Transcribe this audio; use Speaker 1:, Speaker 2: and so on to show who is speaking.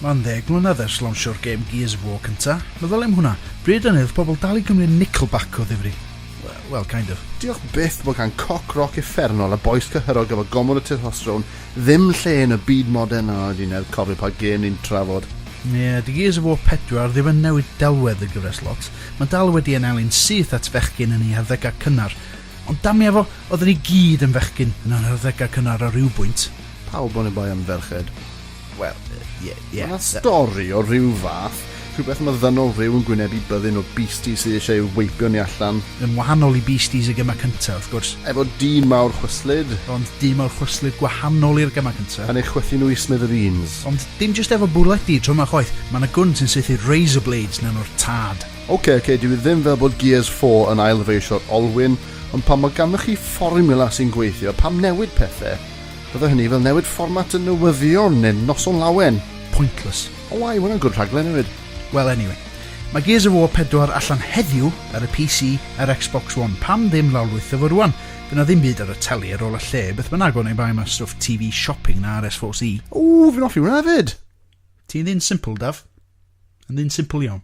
Speaker 1: Mae'n ddeg mlynedd ers lawnsio'r gêm Gears of War cynta. Meddwl am hwnna. Bryd yn oedd pobl dal i gymryd Nickelback o ddifri. Wel, kind of. Diolch byth bod gan
Speaker 2: coc roc uffernol a bois cyhyrog efo gomwr y testosteron ddim lle yn y byd modern. O, dwi'n newydd cofio pa gêm ni'n trafod. Nid Gears
Speaker 1: of War 4 ddim yn newid delwedd y gyfres lot, mae dal wedi ei anelu'n syth at fechgyn yn ei harddegau cynnar. Ond damia fo, oedden ni gyd yn fechgyn yn yr harddegau cynnar ar ryw bwynt. Pawb oni bai
Speaker 2: am ferched. Wel,
Speaker 1: ie, ie. Mae 'na stori
Speaker 2: o ryw fath, rhywbeth am y ddynol ryw yn gwynebu byddin o beasties sydd eisiau ei weipio ni allan. Yn wahanol i beasties
Speaker 1: y gemau cyntaf, wrth gwrs. Efo dyn mawr
Speaker 2: chwyslyd. Ond dyn mawr
Speaker 1: chwyslyd gwahanol i'r gemau cyntaf. Yn ei chwythu nhw i
Speaker 2: smithereens. Ond Dim jyst efo
Speaker 1: bwledi tro 'ma chwaith, ma' 'na gwn sy'n saethu razor blades mewn o'r tad. Ok, ok, dyw hi ddim
Speaker 2: fel bod Gears four yn ail-ddyfeisio'r olwyn, ond pan mae ganddoch chi fformiwla sy'n gweithio, pam newid pethe? Bydde hynny fel newid fformat y newyddion neu Noson Lawen. Pointless.
Speaker 1: O wai, mae hwnna'n good
Speaker 2: rhaglen hefyd. Wel anyway.
Speaker 1: Mae Gears of War pedwar allan heddiw ar y PC a'r Xbox One, pam ddim lawrlwytho fo rŵan? Fy' 'na ddim byd ar y teli ar ôl y lle, beth bynnag, oni bai am y stwff TV shopping na RSFC. Ww, fi'n offi
Speaker 2: hwnna
Speaker 1: hefyd! Ti'n ddyn
Speaker 2: simple,
Speaker 1: Daf. Yn ddyn
Speaker 2: simple
Speaker 1: iawn.